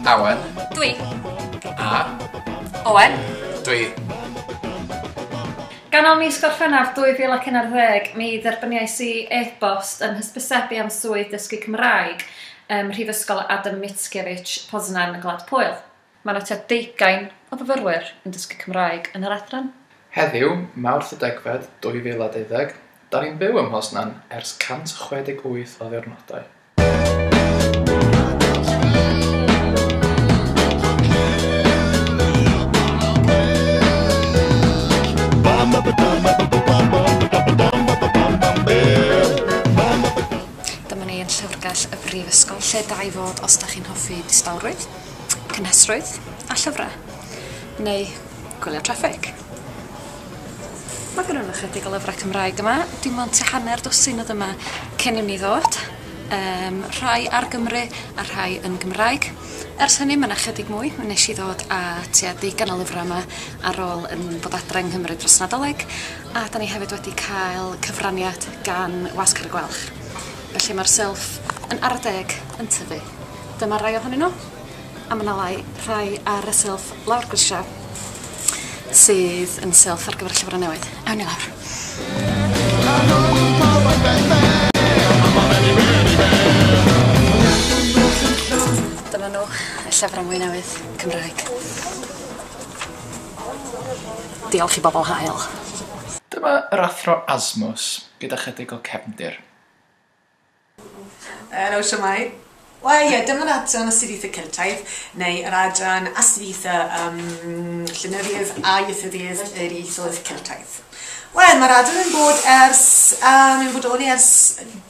Awen. Dwi. A. Owen. Dwi. Ganol mis Gorffennaf 2011, mi dderbyniais i e-bost yn hysbysebu am swydd dysgu Cymraeg ym Mhrifysgol Adam Mickiewicz, Poznan yng Ngwlad Pwyl. Mae 'na tua deugain o fyfyrwyr yn dysgu Cymraeg yn yr adran. Heddiw, Mawrth y degfed 2020, 'da ni'n byw ym Mhoznan ers 168 o ddiwrnodau. Dyma ni yn Llyfrgell y Brifysgol, lle da i fod os da chi'n hoffi distawrwydd, cynhesrwydd a llyfrau. Neu gwylio traffig. Mae gynno ni chydig o lyfrau Cymraeg yma, dim ond tua hanner dwsin oedd yma cyn i ni ddod, yym rhai ar Gymru a rhai yn Gymraeg. Ers hynny mae 'na chydig mwy, mi wnes i ddod â tua deugain o lyfrau yma ar ôl yn bod adre yng Nghymru dros Nadolig. A 'dan ni hefyd wedi cael cyfraniad gan Wasg Cerrig Gwalch. Felly ma'r silff yn ara deg yn tyfu. Dyma rai ohonyn n'w a ma' 'na lai rhai ar y silff lawr grisia sydd yn silff ar gyfer y llyfre newydd. Awn ni lawr. Dyma n'w, y llyfre mwy newydd, Cymraeg. Diolch i bobl hael. Dyma yr Athro Asmus gyda chydig o cefndir. Helo, shwmae? Wel ie, dyma yr adran Astudiaethau Celtaidd, neu yr adran Astudiaethau ym Llenyddiaeth a Ieithyddiaeth yr Ieithoedd Celtaidd. Wel, mae'r adran yn bod ers, um, yn bodoli ers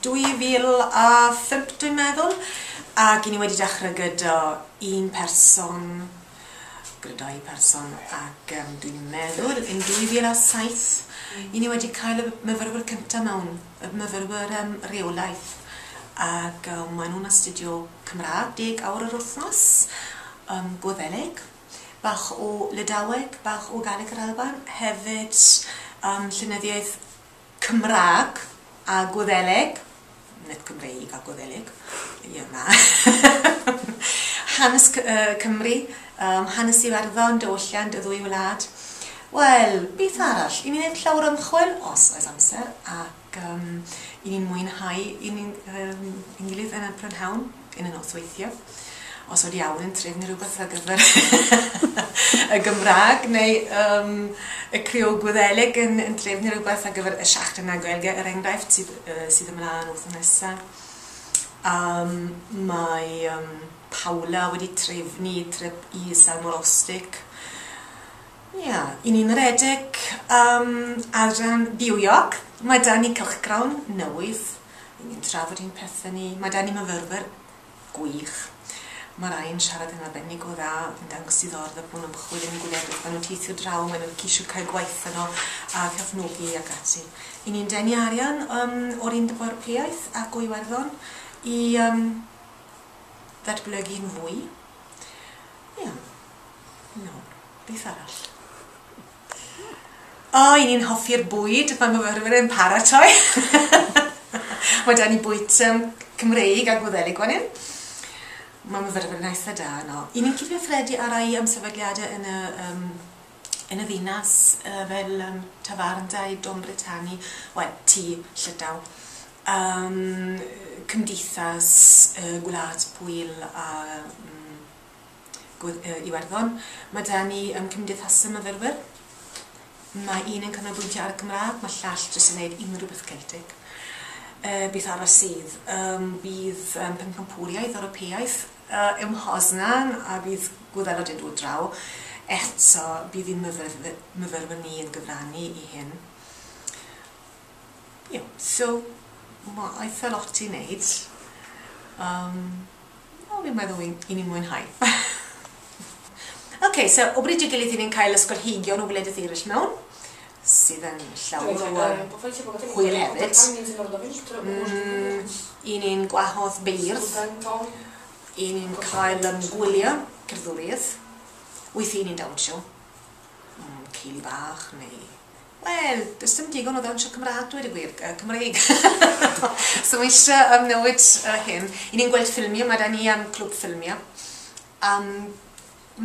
2005 dwi'n meddwl, ac i ni wedi dechrau gyda un person gyda'i pherson ac um, dwi'n meddwl yn 2007 i ni wedi cael y myfyrwyr cyntaf mewn, y myfyrwyr um, reolaeth ac um, maen nhw'n astudio Cymraeg deg awr yr wythnos, um, Gwyddelig, bach o Lydaweg, bach o Galeg yr Alban, hefyd um, llenyddiaeth Cymraeg a Gwyddeleg, nid Cymreig a Gwyddeleg, ie na, hanes Cymru, hanes Iwerddon, diwylliant y ddwy wlad. Wel, beth arall? I ni wneud llawer o ymchwil, os oes amser, ac i ni'n mwynhau i ni'n gilydd yn y prynhawn. yn y nosweithie. Os oedd iawn yn trefnu rhywbeth ar gyfer y Gymraeg neu um, y Creol Gwyddeleg yn, yn trefnu rhywbeth ar gyfer y Siachtan a Gaelge er enghraifft sydd, uh, sydd ymlaen wrth nesaf. Um, mae um, Paula wedi trefnu trip i Salmor Ostig. Ia, yeah. i ni'n redeg um, adran byw York, mae da ni cylchgrawn newydd Ry'n ni'n trafod ein pethe ni. Mae 'da ni myfyrwyr gwych. Mae rai yn siarad yn arbennig o dda, oedd yn dangos diddordeb mewn ymchwil yn y gwledydd. Maen nhw'n teithio draw, maen nhw'n ceisio cael gwaith yno a cefnogi ac ati. Ry'n ni'n denu arian um, o'r Undeb Ewropeaidd ac o Iwerddon i um, ddatblygu'n fwy. Ie. Yeah. No. Beth arall? O, i ni'n hoffi'r bwyd, mae myfyrwyr yn paratoi. mae da ni bwyd um, Cymreig a Gwddelig fan hyn. Mae myfyrwyr yn eitha da yno. I ni'n cyfathredu ar ei am sefydliadau yn y, um, yn y ddinas uh, fel um, tafarndau, Dom Britanni, wel, ti, llydaw. Um, cymdeithas, uh, gwlad, pwyl a... Um, Gwd yy Iwerddon. Ma' 'da ni yym cymdeithasau myfyrwyr. Mae un yn canolbwyntio ar y Gymraeg, ma' llall jyst yn neud unrhyw beth Celtic. Yy beth arall sydd? Yym bydd yym Pencampwriaeth Ewropeaidd yy ym Mhoznan a bydd Gwyddelod yn dod draw. Eto bydd ein myfyrfy- myfyrwyr ni yn gyfrannu i hyn. Ie, so ma' eitha lot i wneud. Yym, wel fi'n meddwl i i ni mwynhau. Ok, so o bryd i'w gilydd i ni'n cael ysgolheigion o wledydd eraill mewn, sydd yn llawer o yym hwyl hefyd. Mm, i ni'n gwahodd beirdd, i ni'n cael yym gwyliau cerddoriaeth, weithiau i ni'n dawnsio, mm, ceili bach neu Wel, does dim digon o ddawnsio Cymraeg dweud y gwir, yy Cymreig! so mae eisiau yym newid yy hyn. I ni'n gweld ffilmiau, mae 'da ni yym clwb ffilmiau. Yym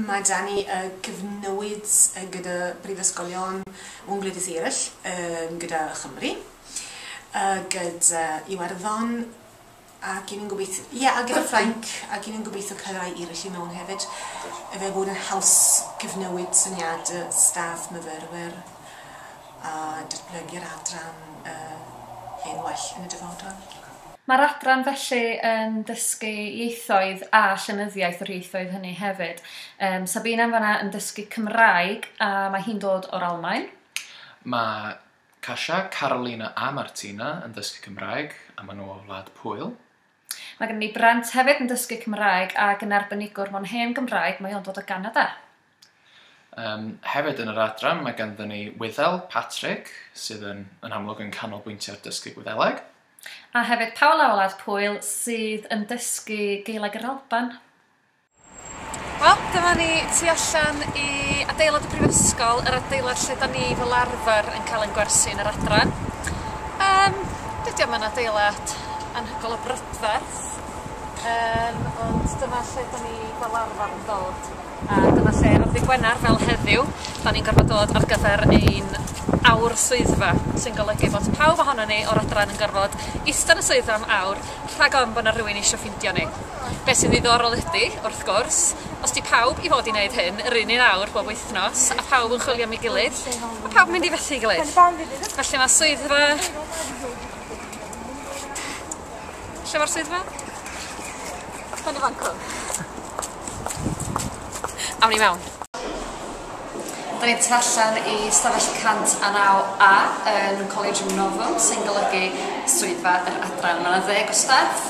mae 'da ni yy cyfnewid yy gyda brifysgolion mewn gwledydd eraill yym gyda Chymru yy gyda Iwerddon Ac i ni'n gobeithio, ie, a gyda Ffrainc, ac i ni'n gobeithio cael rhai eraill i mewn hefyd, efe fod yn haws cyfnewid syniad y staff myfyrwyr a datblygu'r adran hen well yn y dyfodol. Mae'r adran felly yn dysgu ieithoedd a llenyddiaeth yr ieithoedd hynny hefyd. Yym, Sabina yn fan'na yn dysgu Cymraeg a mae hi'n dod o'r Almaen. Mae Kasia, Carolina a Martina yn dysgu Cymraeg a maen nhw o Wlad Pwyl. Mae gennym ni Brent hefyd yn dysgu Cymraeg ac yn arbenigwr mewn hen Gymraeg, mae o'n dod o Ganada. Yym, hefyd yn yr adran mae ganddyn ni Wyddel, Patrick, sydd yn, yn amlwg yn canolbwyntio ar dysgu Gwyddeleg. A hefyd Paula o Wlad Pwyl sydd yn dysgu Gaeleg yr Alban. Wel, dyma ni tu allan i adeilad y Brifysgol, yr adeilad lle 'dan ni fel arfer yn cael ein gwersi yn yr adran. Yym, dydi o'm yn adeilad anhygoel o brydferth, yym, ond dyma lle 'dan ni fel arfer yn dod, a dyma lle ar ddy' Gwener, fel heddiw, 'dan ni'n gorfod dod ar gyfer ein awr swyddfa, sy'n golygu bod pawb ohonon ni o'r adran yn gorfod ista yn y swyddfa am awr, rhag ofn bod 'na rywun eisio ffindio ni. Be' sy'n ddiddorol ydi, wrth gwrs, os 'di pawb i fod i neud hyn yr un un awr bob wythnos a phawb yn chwilio am ei gilydd, ma' pawb yn mynd i fethu'i gilydd. Felly ma' swyddfa... Lle ma'r swyddfa? Yn y fan 'cw. Awn i mewn. Da ni'n tu allan i stafell 109A yn Collegium Novum sy'n golygu swyddfa yr adran. Mae 'na ddeg o staff.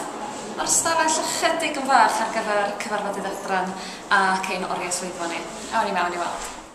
Mae'r stafell ychydig yn fach ar gyfer cyfarfodydd adran ac ein oriau swyddfa ni. Awn i mewn i weld.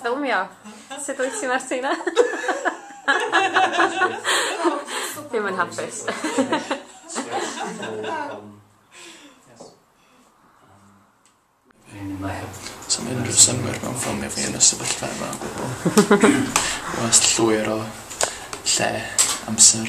Ffilmio. Sut wyt ti Martina? Dim yn hapus. Sa'm unrhyw synnwyr mewn ffilmio fi yn y sefyllfa yma o gwbwl. Wast llwyr o lle, amser.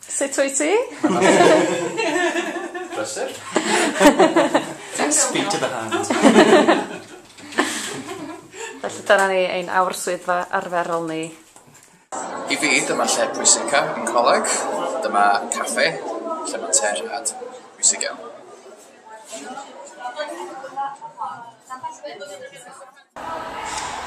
Sut wyt ti? Brysur. Speak to the hand. Felly dyna ni ein awr swyddfa arferol ni. I fi dyma lle pwysica yn coleg. Dyma caffe lle mae te rhad pwysig iawn.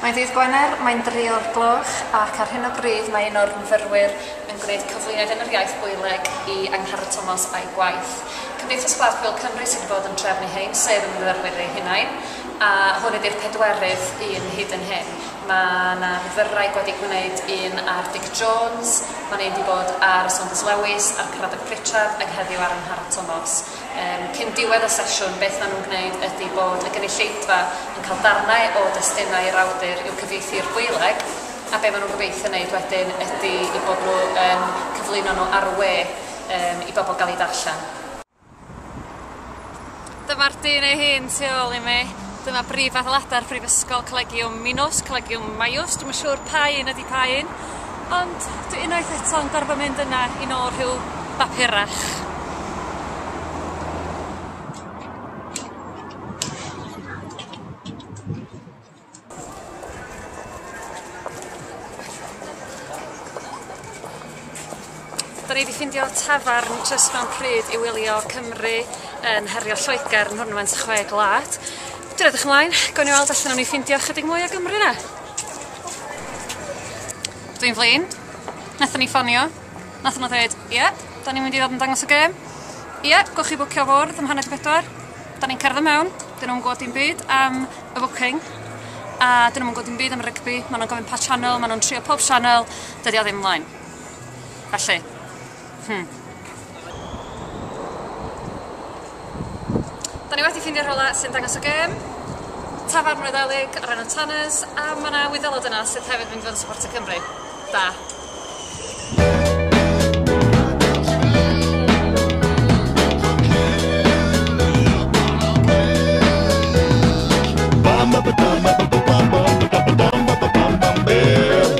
Mae'n ddydd Gwener, mae'n dri o'r gloch ac ar hyn o bryd mae un o'r myfyrwyr yn gwneud cyflwyniad yn yr iaith Goeleg i Angharad Tomos a'i gwaith. Cymdeithas Glaswellt Cymru sydd wedi bod yn trefnu hyn, sef y myfyrwyr eu hunain, a hwn ydi'r pedwerydd un hyd yn hyn. Mae 'na fydwraig wedi gwneud un ar Dic Jones, mae'n un wedi bod ar y Saunders Lewis a'r Cradock Pritchard ac heddiw ar Angharad Tomos. Yym, cyn diwedd y sesiwn, beth maen nhw'n gwneud ydy bod y gynulleidfa yn cael darnau o destunau yr awdur i'w cyfieithu i'r Gwyleg, a be maen nhw'n gobeithio wneud wedyn ydy eu bod nhw yn cyflwyno nhw ar y we yym i bobl gael eu darllen. Dyma'r dyn ei hun tu ôl i mi. Dyma brif adeiladau'r Brifysgol, Collegiwm Minos, Collegiwm Maius, dwi'm yn siŵr pa un ydy pa un. Ond dwi unwaith eto'n gorfod mynd yna i nôl rhyw bapurach. ni 'di ffindio tafarn jyst mewn pryd i wylio Cymru yn herio Lloegr yn Nhwrnament y Chwe Gwlad. Dwi edrych ymlaen, gawn ni weld os nawn ni ffindio chydig mwy o Gymru 'na. Dwi'n flin. Nathon ni ffonio. Nathon nhw ddeud ie 'dan ni'n mynd i ddod yn dangos y gêm. Ie gewch chi bwcio fwrdd am hanner 'di pedwar. 'Dan ni'n cerdded mewn 'dyn nhw'm yn gwbod dim byd am y bwcing a 'dyn nhw'm yn gwbod dim byd am y rygbi ma' nhw'n gofyn pa channel ma' nhw'n trio pob channel dydi o ddim mlaen. Felly. Hmm. Da ni wedi ffindio rhywle sy'n dangos y gêm, tafarn Wyddeleg ar enw Tanners, a ma' 'na Wyddelod yna sydd hefyd mynd i fod yn supportio Cymru. Da.